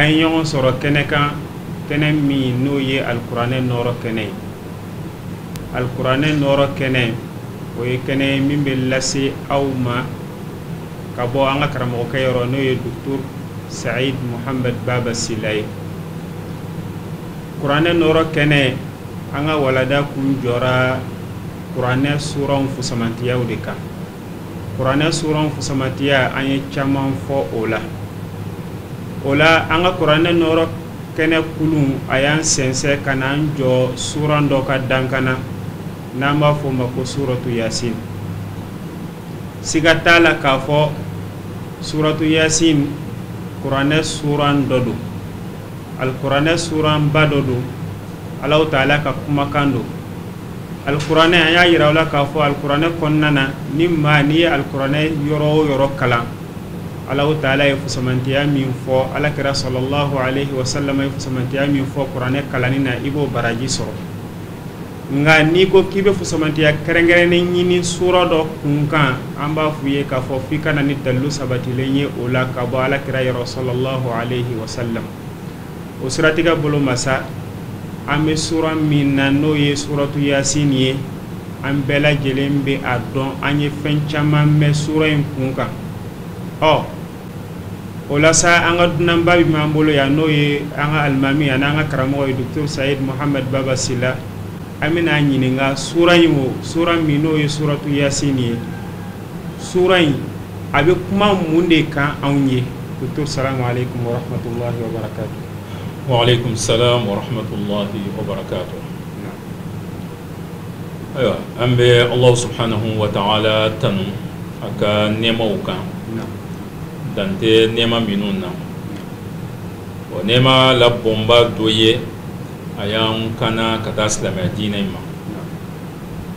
an ye ɲɔgɔn sɔrɔ kɛnɛ kan kɛnɛ min n'o ye alikuranɛ nɔɔrɔ kɛnɛ ye alikuranɛ nɔɔrɔ kɛnɛ o ye kɛnɛ ye min bɛ lase aw ma ka bɔ an ka karamɔgɔkɛ yɔrɔ n'o ye docteur said mohamed baba sila ye kuranɛ nɔɔrɔ kɛnɛ an ka walada kun jɔra kuranɛ suranw fusamantiyaw de kan kuranɛ suran fusamantiya an ye caman fɔ o la o la an ka kuranɛ nɔɔrɔ kɛnɛ kulun a y'an sɛnsɛn ka n'an jɔ suran dɔ ka dankan na n'an b'a fɔ o ma ko suratu yasin siga t'a la k'a fɔ suratu yasin kuranɛ suran dɔ don alikuranɛ suranba dɔ don alahu taala ka kumakan don alikuranɛ an y'a yira aw la k'a fɔ alikuranɛ kɔnɔna na ni maa n'i ye alikuranɛ yɔrɔ o yɔrɔ kalan alahu taala ye fusamantiya min fɔ ala kira sɔlɔlɔhu alehi wasalam ye fusamantiya min fɔ kuranɛ kalanni na i b'o baraji sɔrɔ nka n'i ko k'i bɛ fusamantiya kɛrɛnkɛrɛnnen ɲini sura dɔ kunkan an b'a f'u ye k'a fɔ f'i ka na ni dalilu sabatilen ye o la ka bɔ ala kira yɔrɔ sɔlɔlɔhu aleyhi wasalam o siratigɛ bolo ma sa an bɛ sura min na n'o ye suratu yasin ye an bɛɛ lajɛlen bɛ a dɔn an ye fɛn caman mɛn sura in kunkan ɔ o la sa an ka dunanba min b'an bolo yan n'o ye an ka alimami ani an ka karamɔgɔ ye docteur Sayid Mohamed Baba Sila an bɛna a ɲininka sura in o sura min n'o ye suratu Yasin ye sura in a bɛ kuma mun de kan anw ye docteur salamu aleykum wa rahmatulahi wa barakatu. Wa aleykum salam wa rahmatulahi wa barakatu. ayiwa an bɛ Alahu subahanahu wa taala tanu a ka nɛɛmaw kan dan tɛ nɛɛma minnu na o nɛɛma la bonba dɔ ye a y'an kanna ka taa silamɛya diinɛ in ma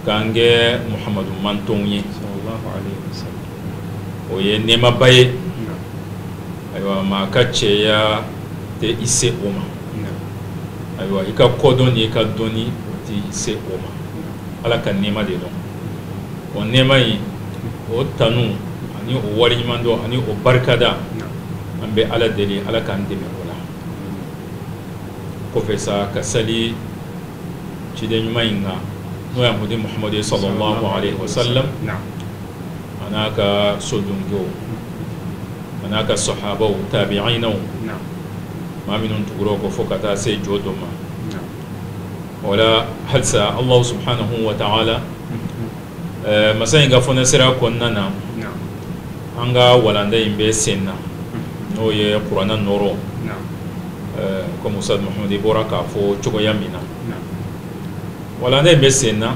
k'an kɛ Muhamadu mantɔnw ye. o ye nɛɛmaba ye ayiwa maa ka cɛya tɛ i se o ma ayiwa i ka kodɔn ni i ka dɔnni o tɛ i se o ma ala ka nɛɛma de don o nɛɛma in o tanu ani o waleɲumandɔn ani o barikada an bɛ ala deli ala k'an dɛmɛ o la kɔfɛ sa ka sali ciden ɲuman in kan n'o y'a mudi muhamadu ye sɔlɔlɔhu alehi wasalam a n'a ka sodonke a n'a ka sahabaw tabi'inaw maa minnu tugura o kɔ fo ka taa se jɔdon ma wala halisa ala subhanahu wa taala masa in ka fɔ nasira kɔnɔna na an ka walanda in bɛ sen na n'o ye kuranɛ nɔɔrɔ komi ustad Mahamad i bɔra k'a fɔ cogoya min na wala ne bɛ sen na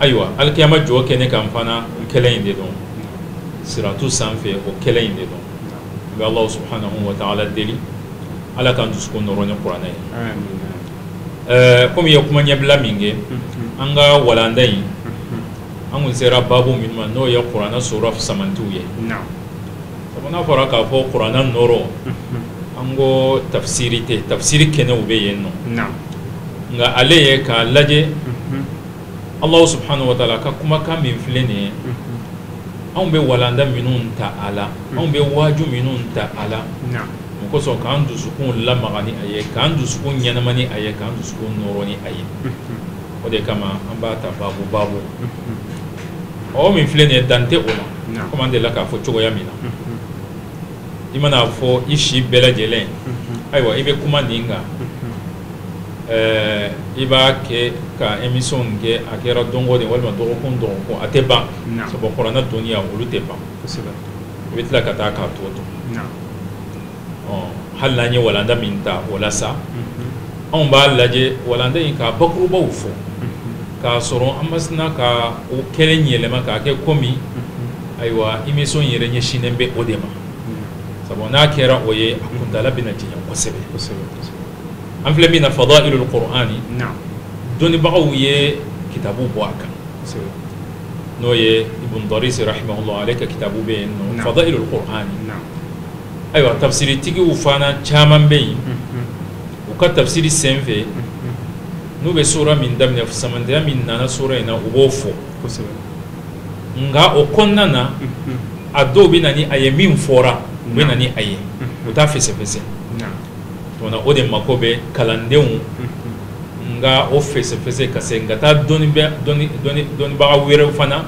ayiwa alikiyama jɔkɛnɛ kan fana kelen in de don siratu sanfɛ o kelen in de don n bɛ alahu subhanahu wa taala deli ala k'an dusukun nɔɔrɔ ni kuranɛ ye ɛɛ komi i ye kuma ɲɛbila min kɛ mm-hmm. an ka walanda in mm-hmm. an kun sera babu min ma n'o ye kuranɛ sura samantiw ye N'a fɔra k'a fɔ kuranɛ nɔɔrɔ an ko tafsiri tɛ tafsiri kɛnɛw bɛ yen nɔ nka ale ye k'a lajɛ alahu subhanahu wa taala ka kumakan min filɛ nin ye anw bɛ walanda minnu ta a la anw bɛ waju minnu ta a la o kosɔn k'an dusukun lamaga ni a ye k'an dusukun ɲɛnamaya ni a ye k'an dusukun nɔɔrɔ ni a ye o de kama an b'a ta baabu baabu awɔ min filɛ nin ye dan tɛ o la komi an dela k'a fɔ cogoya min na i mana a fɔ i si bɛɛ lajɛlen ayiwa i bɛ kuma nin kan i b'a kɛ ka emisiyɔn in kɛ a kɛra don o don walima dɔgɔkun dɔgɔkun a tɛ ban sabu kuranɛ dɔnniya olu tɛ ban i bɛ tila ka taa k'a tɔ to hali n'an ye walanda min ta o la sa anw b'a lajɛ walanda in ka bakurubaw fɔ k'a sɔrɔ an ma sin ka o kelen yɛlɛma k'a kɛ komi ayiwa emisiyɔn yɛrɛ ɲɛsinnen bɛ o de ma sabu n'a kɛra o ye a kuntaala bɛna janya kosɛbɛ an filɛ min na fadailul qur'ani dɔnnibagaw ye kitabu bɔ a kan n'o ye ibn daris rahimahullah ale ka kitabu bɛ yen nɔ fadailul qur'ani ayiwa tafsiritigiw fana caman bɛ yen u ka tafsiri sen fɛ n'u bɛ sura min daminɛ samantɛya min nana sura in na u b'o fɔ nka o kɔnɔna na a dɔw bɛ na ni a ye min fɔra u bɛ na ni a ye u t'a fɛsɛfɛsɛ wala o de mako bɛ kalandenw nka o fɛsɛfɛsɛ ka segin ka taa dɔnnibaga wɛrɛw fana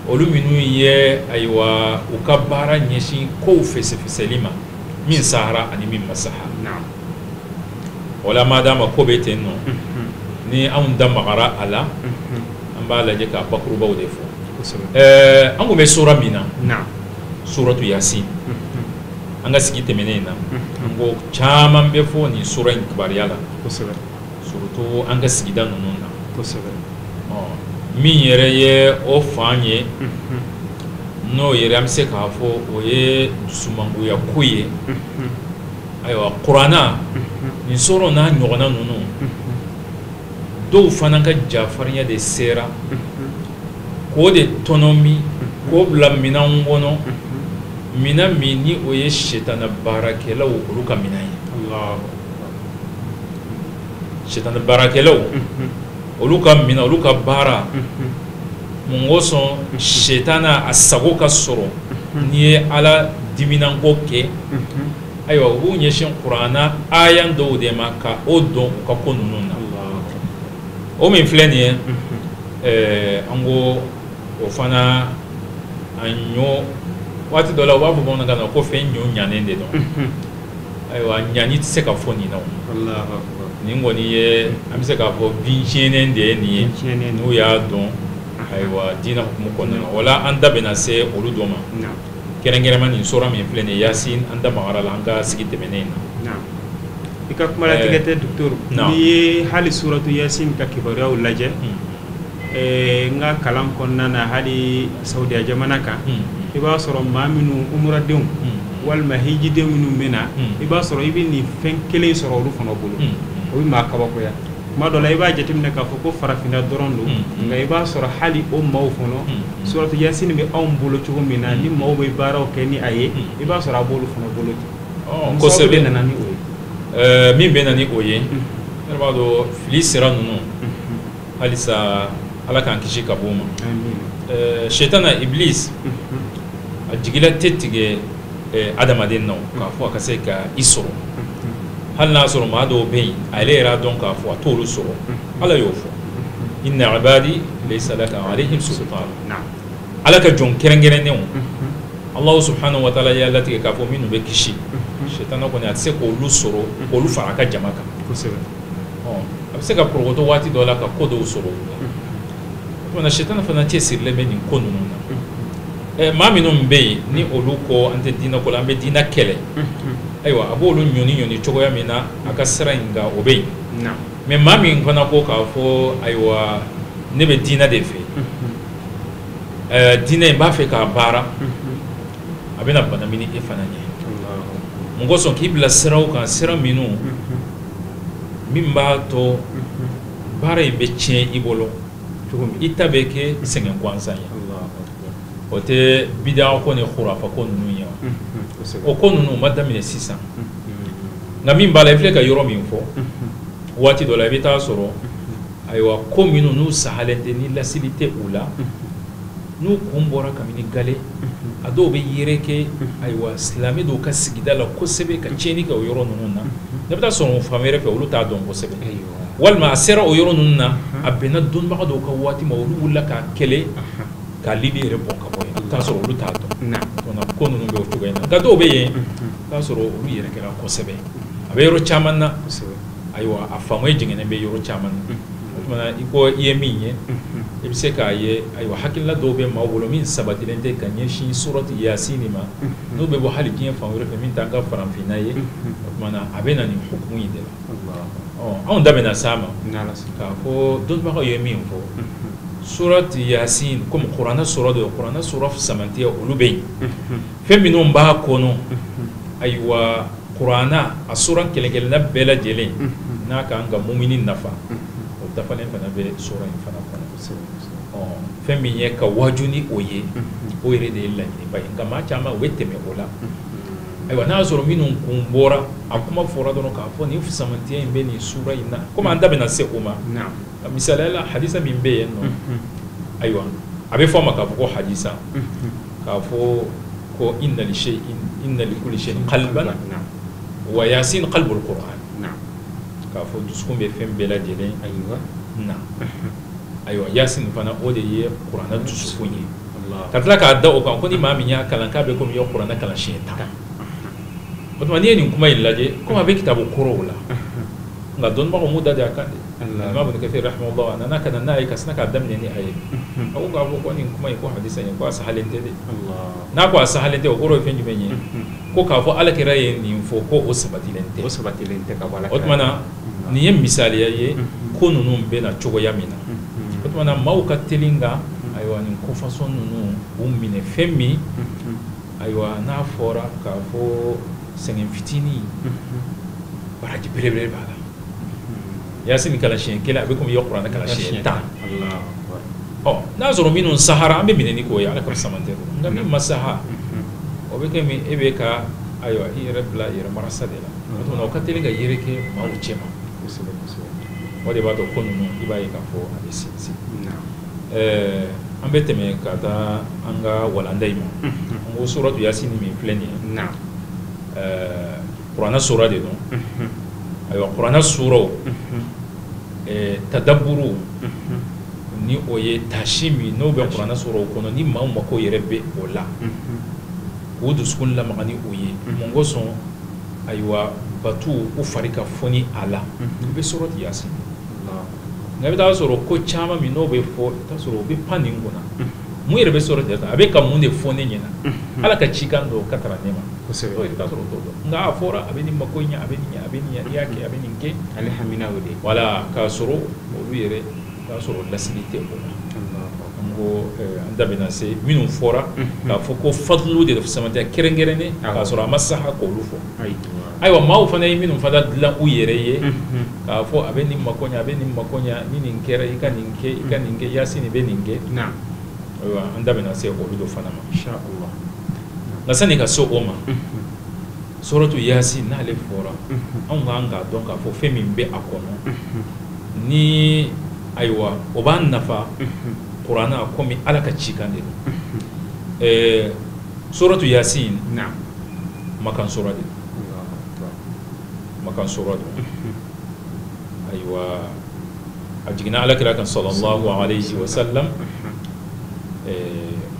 olu minnu ye ayiwa u ka baara ɲɛsin kow fɛsɛfɛsɛli ma min sahara ani min ma saha wala madama ko bɛ ten nɔ ni anw da magara a la an b'a lajɛ ka bakurubaw de fɔ ɛɛ an tun bɛ sura min na suratu yasin an ka sigi tɛmɛnen in na an ko caman bɛ fɔ nin sura in kibaruya la kosɛbɛ surtout an ka sigida ninnu na kosɛbɛ ɔ min yɛrɛ ye o fan ye n'o yɛrɛ an bɛ se k'a fɔ o ye dusumangoya ko ye ayiwa kuranna nin sura n'a ɲɔgɔnna ninnu dɔw fana ka jafarinya de sera k'o de tɔnɔmi k'o bila minɛn kɔnɔ minɛn min ni o ye setana baarakɛlaw olu ka minɛn ye sitanɛ baarakɛlaw, unhun, olu ka minɛn olu ka baara, unhun, mun kosɔn sitanɛ a sago ka sɔrɔ n'i ye Ala diminanko kɛ, unhun, ayiwa u b'u ɲɛsin kurana aya dɔw de ma ka o don u ka ko ninnu na, alahu akbar, o min filɛ nin ye, unhun, ɛɛ an ko o fana a ɲɔ waati dɔ la u b'a fɔ bamanankan na ko fɛn ɲɔ ɲanen de don, unhun ayiwa ɲanen tɛ se ka fɔ nin na nin kɔni ye an bɛ se k'a fɔ bin tiɲɛnen de ye nin ye n'u y'a dɔn ayiwa diinɛ hukumu kɔnɔna na wala an da bɛna se olu dɔ ma kɛrɛnkɛrɛnma nin sura min filɛ nin ye yasin an da magara a la an ka sigi tɛmɛnen in na i ka kuma latigɛ tɛ docteur n'i ye hali suratu yasin ka kibaruyaw lajɛ Ɛɛ n ka kalan kɔnɔna na hali saudiya jamana kan i b'a sɔrɔ maa minnu umuradenw walima hijidenw minnu bɛ na i b'a sɔrɔ i bɛ nin fɛn kelen sɔrɔ olu fana bolo o bɛ maa kabakoya tuma dɔ la i b'a jateminɛ k'a fɔ ko farafinna dɔrɔn don nka i b'a sɔrɔ hali o maaw fana suratu yasin bɛ anw bolo cogo min na ni maaw bɛ baaraw kɛ ni a ye i b'a sɔrɔ a b'olu fana bolo ten kosɛbɛ nana ni o ye min bɛ na ni o ye b'a dɔn fili sira ninnu halisa ala k'an kisi ka bɔ o ma setana iblis a jigila tɛ tigɛ adamaden na k'a fɔ a ka se ka i sɔrɔ hali n'a sɔrɔ maa dɔw bɛ yen ale yɛrɛ y'a dɔn k'a fɔ a t'olu sɔrɔ ala y'o fɔ inna ibadi laysa laka alayhim sultan ala ka jɔn kɛrɛnkɛrɛnnenw ala subhanahu wa ta'ala y'a latigɛ k'a fɔ minnu bɛ kisi setana kɔni a tɛ se k'olu sɔrɔ k'olu fara a ka jama kan a bɛ se ka porokoto waati dɔ la ka ko dɔw sɔrɔ o la setana fana cɛsirilen bɛ nin ko ninnu na maa minnu bɛ yen ni olu ko an tɛ diinɛ ko la an bɛ diinɛ kɛlɛ ayiwa a b'olu ɲɔniɲɔni cogoya min na a ka sira in kan o bɛ yen mais maa min fana ko k'a fɔ ayiwa ne bɛ diinɛ de fɛ diinɛ in b'a fɛ k'a baara a bɛna banamini e fana ɲɛ mun kosɔn k'i bila sira kan sira minnu min b'a to baara in bɛ tiɲɛ i bolo i ta bɛ kɛ sɛgɛn gansan ye o tɛ bid'a ko ni khurafa ko ninnu ye o ko ninnu ma daminɛ sisan nka min b'a la i filɛ ka yɔrɔ min fɔ waati dɔ la i bɛ t'a sɔrɔ ayiwa ko minnu n'u sahalen tɛ ni lasili tɛ u la n'u kun bɔra kabini gale a dɔw bɛ yɛrɛkɛ ayiwa silamɛ dɔw ka sigida la kosɛbɛ ka tiɲɛni kɛ o yɔrɔ ninnu na n'e bɛ t'a sɔrɔ fan wɛrɛ fɛ olu t'a dɔn kosɛbɛ walima a sera o yɔrɔ ninnu na a bɛnna dɔnbaga dɔw ka waati ma olu wulila k'a kɛlɛ k'a lili yɛrɛ bɔ ka bɔ yen t'a sɔrɔ olu t'a dɔn ko ninnu bɛ o cogo in na nka dɔw bɛ yen t'a sɔrɔ olu yɛrɛkɛra kosɛbɛ a bɛ yɔrɔ caman na ayiwa a faamuya jɛngɛnen bɛ yɔrɔ caman na i ko i ye min ye i bɛ se k'a ye ayiwa hakilina dɔw bɛ maaw bolo min sabatilen tɛ ka ɲɛsin surati yasin ma n'o bɛ bɔ hali diɲɛ fan wɛrɛ fɛ min t'an ka farafinna ye o tuma na a bɛ na nin hukumu in de la an da bɛna s'a ma k'a fɔ dɔnbagaw ye min fɔ surati yasin kɔmi kuranɛ sura de kuranɛ sura fisamantiya olu bɛ yen fɛn minnu b'a kɔnɔ ayiwa kuranɛ a sura kelen kelenna bɛɛ lajɛlen n'a ka kan ka mumini nafa o dafalen fana bɛ sura in fana kɔnɔ fɛn min ye ka waaju ni o ye o yɛrɛ de ye laɲiniba ye nka maa caman u bɛ tɛmɛ o la ayiwa n'a y'a sɔrɔ minnu kun bɔra a kuma fɔra dɔrɔn k'a fɔ nin fisamantiya in bɛ nin sura in na komi an da bɛna se o ma misali la hadisa min bɛ yen nɔ ayiwa a bɛ fɔ a ma k'a fɔ ko hadisa k'a fɔ ko inna li shay inna li kulli shay qalban wa yasin qalbul qur'an k'a fɔ dusukun bɛ fɛn bɛɛ lajɛlen ayiwa na ayiwa yasin fana o de ye kuranɛ dusukun ye ka tila k'a da o kan ko ni maa min y'a kalan k'a bɛ komi i ye kuranɛ kalan siɲɛ tan o tuma n'i ye nin kuma in lajɛ komi a bɛ kitabu kɔrɔw la nka dɔnbagaw m'u da dɛ a kan dɛ alama ibn kathir rahimahullah a nana ka na n'a ye ka sina k'a daminɛ ni a ye a ko k'a fɔ ko nin kuma in ko hadisa in ko a sahalen tɛ de n'a ko a sahalen tɛ o kɔrɔ ye fɛn jumɛn ye ko k'a fɔ ala kira ye nin fɔ ko o sabatilen tɛ o sabatilen tɛ ka bɔ ala kira o tuma na nin ye misaliya ye ko ninnu bɛ na cogoya min na o tuma na maaw ka teli ka ayiwa nin ko fasɔn ninnu u minɛ fɛn min Ayiwa n'a fɔra k'a fɔ sɛgɛn fitinin baraji belebele b'a la i yasin kalan siyɛn kelen a bɛ komi i ye kuranɛ kalan siyɛn tan ɔ n'a y'a sɔrɔ minnu sahara an bɛ minɛ ni k'o ye ala ka fisamantiya nka min ma saha o bɛ komi e bɛ ka ayiwa i yɛrɛ bila yɛrɛ marasa de la o ka teli ka yɛrɛkɛ maaw cɛma o de b'a to ko ninnu i b'a ye k'a fɔ a bɛ se An bɛ tɛmɛ ka taa an ka walanda in ma n ko suratu yasin min filɛ nin ye kuranɛ sura de don ayiwa kuranɛ suraw tadaburu ni o ye tasi min n'o bɛ kuranɛ suraw kɔnɔ ni maaw mako yɛrɛ bɛ o la k'u dusukun lamaga ni o ye mun kosɔn ayiwa batu u fari ka foni a la u bɛ suratu yasin nka i bɛ t'a sɔrɔ ko caman min n'o bɛ fɔ i bɛ t'a sɔrɔ o bɛ pan nin kunna mun yɛrɛ bɛ suratu yasin a bɛ ka mun de fɔ ne ɲɛna ala ka cikan don ka taa ne ma t'a sɔrɔ o t'o dɔn nka a fɔra a bɛ nin mako ɲɛ a bɛ ɲɛ a bɛ ɲɛ i y'a kɛ a bɛ nin kɛ ale hamina de wala k'a sɔrɔ olu yɛrɛ t'a sɔrɔ lasili tɛ o la n ko an da bɛna se minnu fɔra k'a fɔ ko fadulu de fisamantiya kɛrɛnkɛrɛnnen k'a sɔrɔ a ma saha ka olu fɔ ayiwa maaw fana ye minnu fana dilan u yɛrɛ ye k'a fɔ a bɛ nin mako ɲɛ a bɛ nin mako ɲɛ ni nin kɛra i ka nin kɛ i ka nin kɛ yasin bɛ nin kɛ ayiwa an da bɛna se olu dɔ fana ma nka sani ka se o ma suratu yasin n'ale fɔra anw k'an k'a dɔn k'a fɔ fɛn min bɛ a kɔnɔ ni ayiwa o b'an nafa kuranɛ komi ala ka cikan de don Suratu yasin makan sura de makan sura de ayiwa a jiginna ala kira kan salalahu alayihi wasalam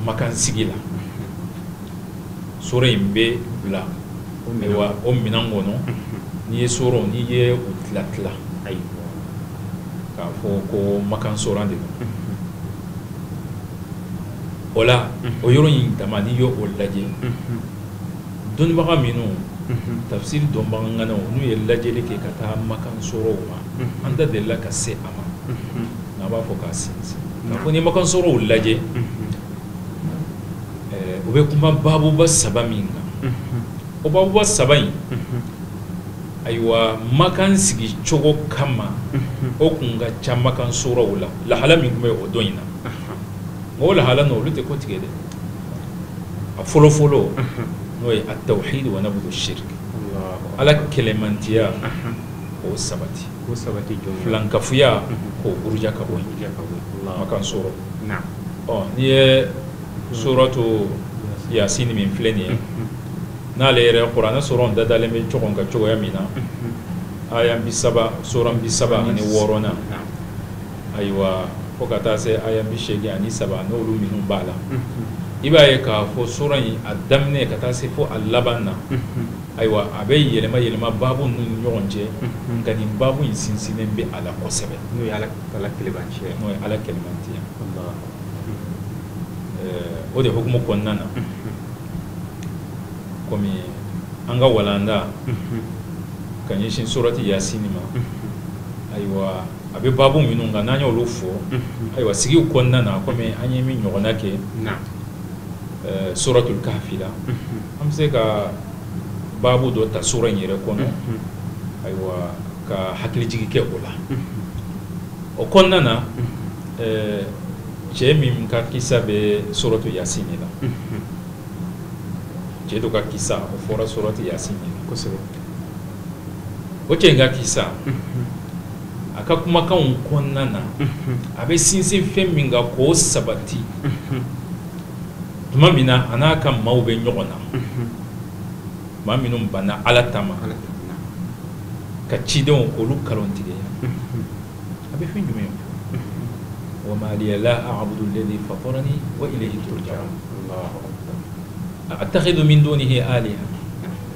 makan sigi la sura in bɛ bila ayiwa o minɛn kɔnɔ n'i ye suraw n'i ye u tilatila ayiwa k'a fɔ ko makan sura de o la o yɔrɔ in dama n'i y'o lajɛ dɔnnibaga minnu tafisiri dɔnbaga ŋanaw n'u ye lajɛli kɛ ka taa makan suraw ma an da delila ka se a ma n'a b'a fɔ ka se k'a fɔ ni makan suraw lajɛ u bɛ kuma babuba saba min kan o babuba saba in ayiwa makan sigi cogo kama o tun ka ca makan suraw la lahala min tun bɛ o don in na mɔgɔw lahala n'olu tɛ kɔtigɛ dɛ a fɔlɔ fɔlɔ n'o ye atawhidi wa nabudu shiriki ala kelenmantiya k'o sabati filankafoya k'o buruja ka bɔ yen makan sura ɔ n'i ye suratu yasin min filɛ nin ye n'ale yɛrɛ kuranɛ suraw da dalen bɛ ɲɔgɔn kan cogoya min na a ye bi saba sura bi saba ni wɔɔrɔnan ayiwa fo ka taa se aya bi seegin ani saba n'olu minnu b'a la i b'a ye k'a fɔ sura in a daminɛ ka taa se fo a laban na ayiwa a bɛ yɛlɛma yɛlɛma baabu ninnu ni ɲɔgɔn cɛ nka nin baabu in sinsinnen bɛ a la kosɛbɛ n'o ye ala kelenmantiya ye n'o ye ala kelenmantiya ye o de hukumu kɔnɔna na kɔmi an ka walanda ka ɲɛsin suratu yasini ma ayiwa a bɛ baabu minnu kan n'an y'olu fɔ ayiwa sigiw kɔnɔna na kɔmi an ye min ɲɔgɔnna kɛ suratul kahfi la an bɛ se ka baabu dɔ ta sura in yɛrɛ kɔnɔ ayiwa ka hakilijigin kɛ o la o kɔnɔna na cɛ min ka kisa bɛ suratu yasini na cɛ dɔ ka kisa o fɔra suratu yasini na kosɛbɛ o cɛ in ka kisa a ka kumakanw kɔnɔna na a bɛ sinsin fɛn min kan k'o sabati tuma min na a n'a ka maaw bɛ ɲɔgɔn na maa minnu banna ala taala ma k'a cidenw k'olu nkalontigiya a bɛ fɛn jumɛn wa ma liya la a'budu alladhi fatarani wa ilayhi turja'un a attakhidhu min dunihi aliha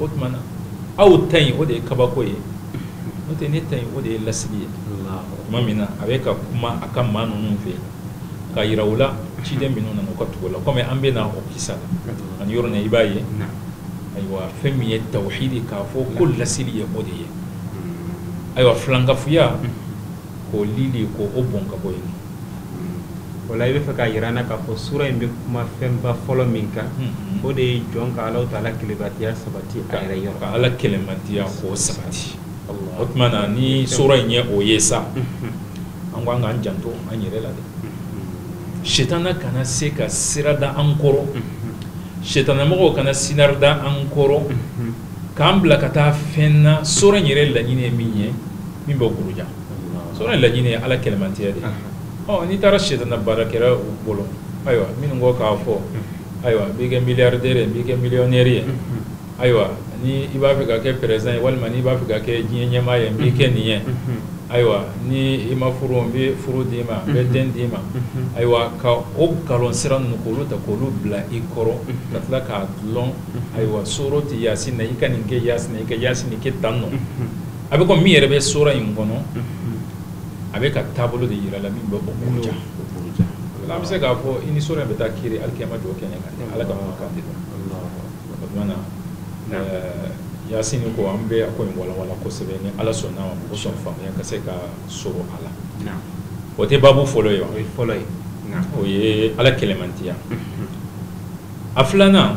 o tuma na aw ta in o de ye kabako ye n'o tɛ ne ta in o de ye lasili ye tuma min na a bɛ ka kuma a ka maa ninnu fɛ yen k'a yira u la ciden minnu nana u ka tugu u la kɔmi an bɛ na o kisa la ani yɔrɔ na i b'a ye ayiwa fɛn min ye tawhidi k'a fɔ ko lasili ye o de ye ayiwa filankafoya k'o lili k'o bɔn ka bɔ yen o la i b'a fɛ k'a yira an na k'a fɔ sura in bɛ kuma fɛnba fɔlɔ min kan o de ye jɔn ka ala taala kelenmantiya sabati a yɛrɛ yɔrɔ ka ala kelenmantiya k'o sabati o tuma na ni sura in ye o ye sa an ko an k'an janto an yɛrɛ la dɛ setana kana se ka sira da an kɔrɔ setanamɔgɔ kana sira da an kɔrɔ k'an bila ka taa fɛn na sura in yɛrɛ laɲini ye min ye min b'o buruja sura in laɲini ye ala kelenmantiya de ye n'i taara setana baarakɛlaw bolo ayiwa minnu ko k'a fɔ ayiwa n b'i kɛ miliyardɛri ye n b'i kɛ miliyɔnɛri ye ayiwa ni i b'a fɛ ka kɛ peresidan ye walima n'i b'a fɛ ka kɛ diɲɛ ɲɛmaa ye n b'i kɛ nin ye ayiwa ni i ma furu n bɛ furu d'i ma n bɛ den d'i ma ayiwa ka o nkalon sira ninnu k'olu ta k'olu bila i kɔrɔ ka tila k'a dulon ayiwa suratu yasin na i ka nin kɛ yasin i ka yasin kɛ tan nɔ a bɛ ko min yɛrɛ bɛ sura in kɔnɔ a bɛ ka taabolo de jira la min bɛ bɔja an bɛ se k'a fɔ i ni sura in bɛ taa kiri alikiyama jɔ kɛnɛ kan ala ka kan de la na yasin ko an bɛ a ko in walanwalan kosɛbɛ ni ala sɔnna ma o kosɔn faamuya ka se ka sɔrɔ a la o tɛ baabu fɔlɔ ye o ye ala kelenmantiya a filanan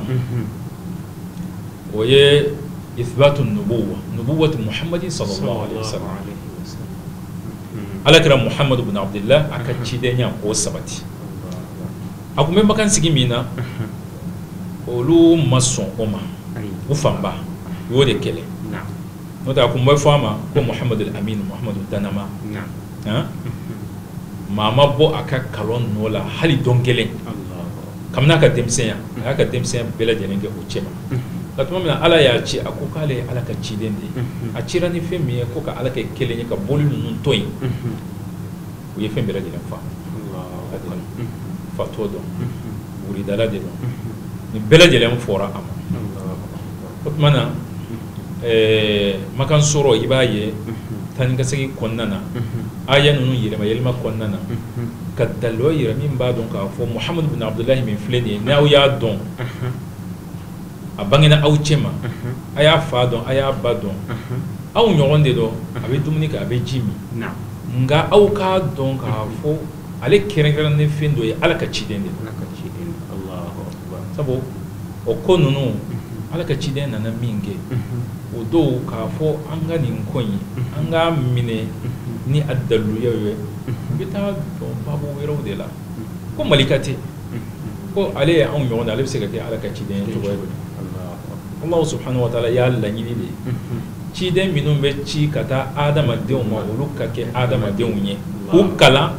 o ye isibatu nubuwati muhamadu sallallahu alaihi wasallam ala kira muhamadu bunu abudulayi a ka cidenya ko sabati a tun bɛ makan sigi min na olu ma sɔn o ma u fanba u y'o de kɛlɛ n'o tɛ a kun bɛ fɔ a ma ko muhamadu lamini muhamadu dannamaa maa ma bɔ a ka kalon nɔ la hali don kelen kabini a ka denmisɛnya a y'a ka denmisɛnya bɛɛ lajɛlen kɛ u cɛma nka tuma min na ala y'a ci a ko k'ale ye ala ka ciden de ye a cira ni fɛn min ye ko ka ala kɛ kelen ye ka boli ninnu to yen u ye fɛn bɛɛ lajɛlen fɔ a la fatɔ don wuridala de don nin bɛɛ lajɛlen fɔra a ma o tuma na ɛɛ makan sura i b'a ye taa ni ka segin kɔnɔna na aya ninnu yɛlɛma yɛlɛma kɔnɔna na ka dalu yira min b'a dɔn k'a fɔ muhamadu bin abudulayi min filɛ nin ye n'aw y'a dɔn a bangena aw cɛma aw y'a fa dɔn aw y'a ba dɔn aw ɲɔgɔn de don a bɛ dumuni kɛ a bɛ ji min nka aw k'a dɔn k'a fɔ ale kɛrɛnkɛrɛnna ni fɛn dɔ ye ala ka ciden de sabu o ko ninnu ala ka ciden nana minkɛ u dɔw k'a fɔ an ka nin ko ye an k'a minɛ ni a dalu ye an bɛ t'a dɔn baabu wɛrɛw de la ko malika tɛ ko ale ye anw ɲɔgɔn ye ale bɛ se ka kɛ ala ka ciden ye cogoya ala subhanahu wa taala y'a laɲini de ciden minnu bɛ ci ka taa adamadenw ma olu ka kɛ adamadenw ye k'u kalan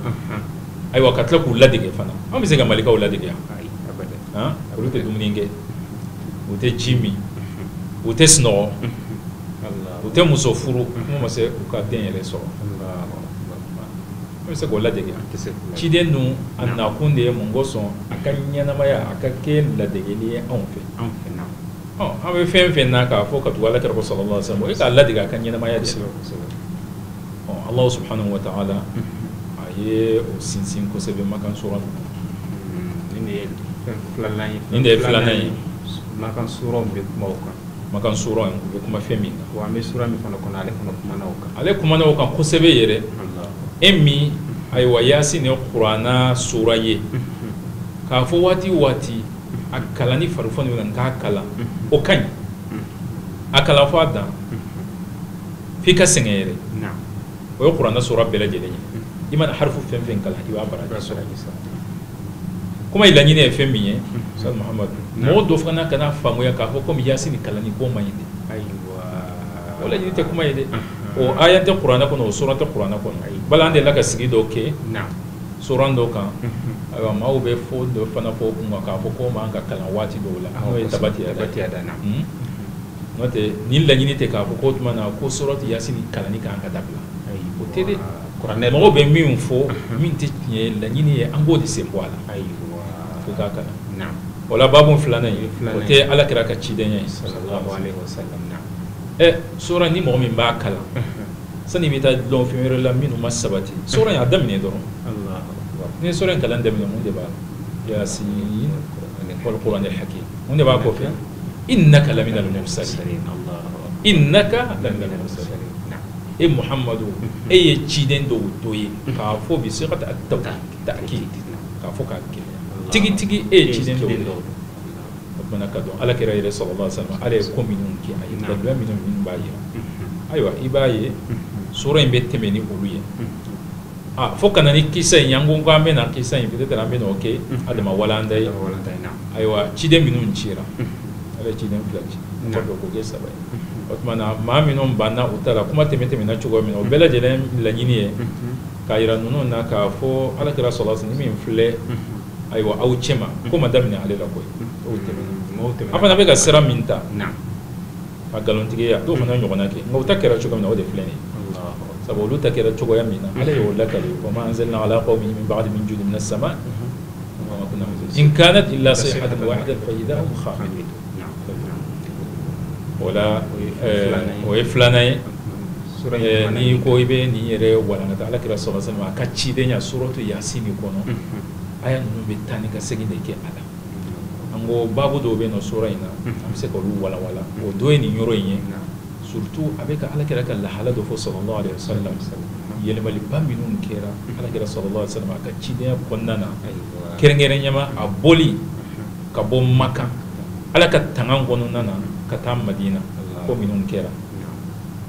ayiwa ka tila k'u ladege fana an bɛ se ka malikaw ladege yan olu tɛ dumuni kɛ u tɛ ji min u tɛ sunɔgɔ u tɛ muso furu kuma ma se u ka den yɛrɛ sɔrɔ an bɛ se k'o ladege ciden dun a nakun de ye mun kosɔn a ka ɲɛnamaya a ka kɛ ladegeli ye anw fɛ an bɛ fɛn fɛn na k'a fɔ ka tugu alakira kɔ sallallahu alaihi wasallam o ye k'a ladege a ka ɲɛnamaya de ala subhanahu wa ta'ala a ye o sinsin kosɛbɛ makan sura nin de ye filanan ye nin de ye filan ye makan sura bɛ kuma o kan makan sura in bɛ kuma fɛn min kan wa an bɛ sura min fana kɔnɔ ale fana kumana o kan ale kumana o kan kosɛbɛ yɛrɛ e min ayiwa yasin ye kuranɛ sura ye k'a fɔ waati o waati a kalan ni farifoni min na k'a kalan o ka ɲi a kalan fo a dan f'i ka sɛgɛn yɛrɛ o ye kuranɛ sura bɛɛ lajɛlen ye i mana harifu fɛn fɛn kalan i b'a baraji sɔrɔ kuma i laɲini ye fɛn min ye muhamadu mɔgɔ dɔ fana kana faamuya k'a fɔ kɔmi yasin kalanni k'o man ɲi dɛ o laɲini tɛ kuma ye dɛ o aya tɛ kuranɛ kɔnɔ o sura tɛ kuranɛ kɔnɔ ayi bala an delila ka sigi dɔw kɛ sura dɔw kan ayiwa maaw bɛ fɔ dɔ fana fɔ kun k'a fɔ ko man ka kalan waati dɔw la n'o ye tabati da na n'o tɛ ni laɲini tɛ k'a fɔ ko tuma na ko surati yasin kalan kan ka dabila o tɛ dɛ kuranɛ mɔgɔ bɛ min fɔ min tɛ tiɲɛ ye laɲini ye an b'o de sen bɔ a la ayi ko k'a kalan wala babu filanan ye o tɛ ala kira ka cidenya ye ɛ sura ni mɔgɔ min b'a kalan sani i bɛ taa dɔn fɛn wɛrɛ la minnu ma sabati sura in a daminɛ dɔrɔn ni sura in kalan daminɛ mun de b'a la yasin wal qur'an al hakim mun de b'a kɔ fɛ innaka laminal mursalin innaka e muhamadu e ye ciden dɔw dɔ ye k'a fɔ bi sigati ta'kid k'a fɔ k'a kɛ tigitigi e ye ciden dɔw ye o tuma na k'a dɔn ala kira yɛrɛ sallallahu alaihi wasallam ala ye ko minnu kɛ a ye daluya minnu minnu b'a yira ayiwa i b'a ye sura in bɛ tɛmɛ ni olu ye Ah, fo ka na ni kisa in an ko ko an bɛ na kisa in peut-être an bɛ n'o kɛ a dama walanda ye ayiwa ciden minnu cira ala ye ciden fila ci ka dɔ k'o kɛ saba ye o tuma na maa minnu banna u ta la kuma tɛmɛ tɛmɛna cogo min na o bɛɛ lajɛlen laɲini ye k'a yira ninnu na k'a fɔ ala kira sallallahu alaihi wasallam min filɛ ayiwa aw cɛma ko ma daminɛ ale la koyi o tɛmɛna an fana bɛ ka sira min ta a nkalontigiya dɔw fana ɲɔgɔnna kɛ nka u ta kɛra cogo min na o de filɛ nin ye sabu olu ta kɛra cogoya min na ala y'o lakali wa ma anzalna ala qawmin min ba'di min jundin minas sama in kanat illa sayhatan wahidatan fa idha hum khamidun o la o ye filanan ye Eh, n'i ko i bɛ nin yɛrɛ walankata ala kira sallallahu alaihi wasallam a ka cidenya suratu yasin kɔnɔ aya ninnu bɛ taa ni ka segin de kɛ a la an ko baabu dɔw bɛ nin sura in na an bɛ se ka olu walawala o dɔ ye nin yɔrɔ in ye surtout a bɛ ka alakira ka lahala dɔ fɔ sallallahu alaihi wasallam yɛlɛmaliba minnu kɛra alakira sallallahu alaihi wasallam a ka cidenya kɔnɔna na kɛrɛnkɛrɛnniyama a bɔli ka bɔ makan ala ka tanga kɔnɔna na ka taa madina ko minnu kɛra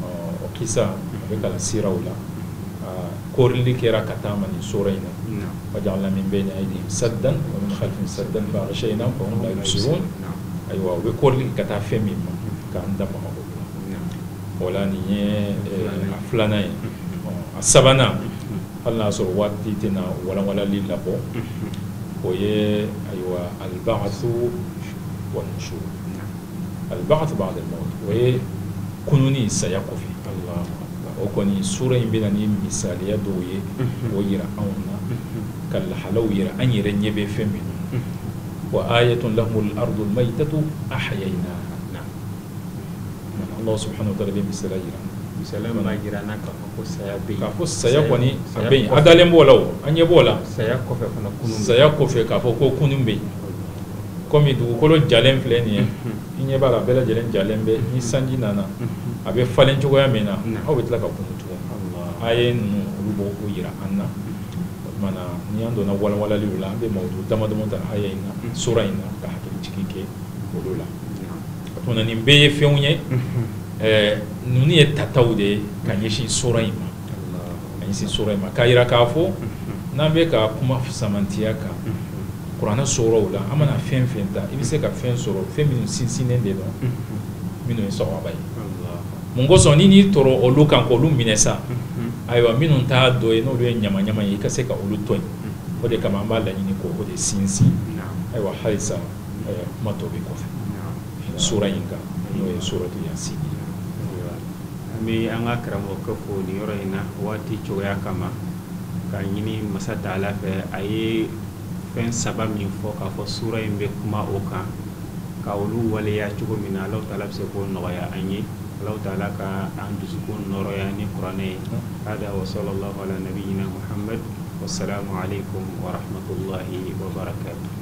o kisa a bɛ kalan siraw la kɔrili kɛra ka taa a ma nin sura in na waja'alna min bayni aydihim saddan wa min khalfihim saddan faghshaynahum fahum la yubsirun ayiwa u bɛ kɔrili ka taa fɛn min ma k'an da maga o la nin ye a filanan ye a sabanan hali n'a sɔrɔ waati tɛna walawalali labɔ o ye ayiwa al-ba'thu wan-nushur al-ba'th ba'da al-mawt o ye kununni saya kɔfɛ o kɔni sura in bɛna ni misaliya dɔw ye o jira anw na ka lahalaw jira an yɛrɛ ɲɛ bɛ fɛn min wa ayatun lahumul ardul maytatu ahyaynaha Allah subhanahu wa ta'ala bɛ misaliya jira misali ma jira an na ka ko saya bɛ k'a fɔ saya kɔni a bɛ yen an dalen b'o la o an ɲɛ b'o la saya kɔfɛ fana kunun saya kɔfɛ k'a fɔ ko kunun bɛ yen kɔmi dugukolo jalen filɛ nin ye i ɲɛ b'a la bɛɛ lajɛlen jalen bɛ ni sanji nana a bɛ falen cogoya min na aw bɛ tila ka kunun tugun aya ninnu olu b'o jira an na a tuma na ni an donna walawalaliw la an bɛ mawudu damadama ta aya in na sura in na ka hakili jigin kɛ olu la a tuma na nin bɛɛ ye fɛnw ye ninnu ye tataw de ye ka ɲɛsin sura in ma ɲɛsin sura in ma k'a jira k'a fɔ n'an bɛ ka kuma samantiya kan kuranɛ suraw la an mana fɛn fɛn ta i bɛ se ka fɛn sɔrɔ fɛn minnu sinsinnen de don minnu ye sawaba ye mun kosɔn ni n'i tora olu kan k'olu minɛ sa ayiwa minnu t'a dɔ ye n'olu ye ɲama ɲama ye i ka se ka olu to yen o de kama an b'a laɲini k'o de sinsin ayiwa halisa kuma tɔ bɛ kɔfɛ sura in kan n'o ye suratu yasin an bɛ an ka karamɔgɔkɛ fo nin yɔrɔ in na waati cogoya kama ka ɲini masa taala fɛ a ye fɛn saba min fɔ k'a fɔ sura in bɛ kuma o kan ka olu waleya cogo min na alahu taala bɛ se k'o nɔgɔya an ye alahu taala ka an dusukun nɔɔrɔya ni kuranɛ ye hada wa sallallahu ala nabiyina muhammad wasalamu alaikum wa rahmatullahi wa barakatuh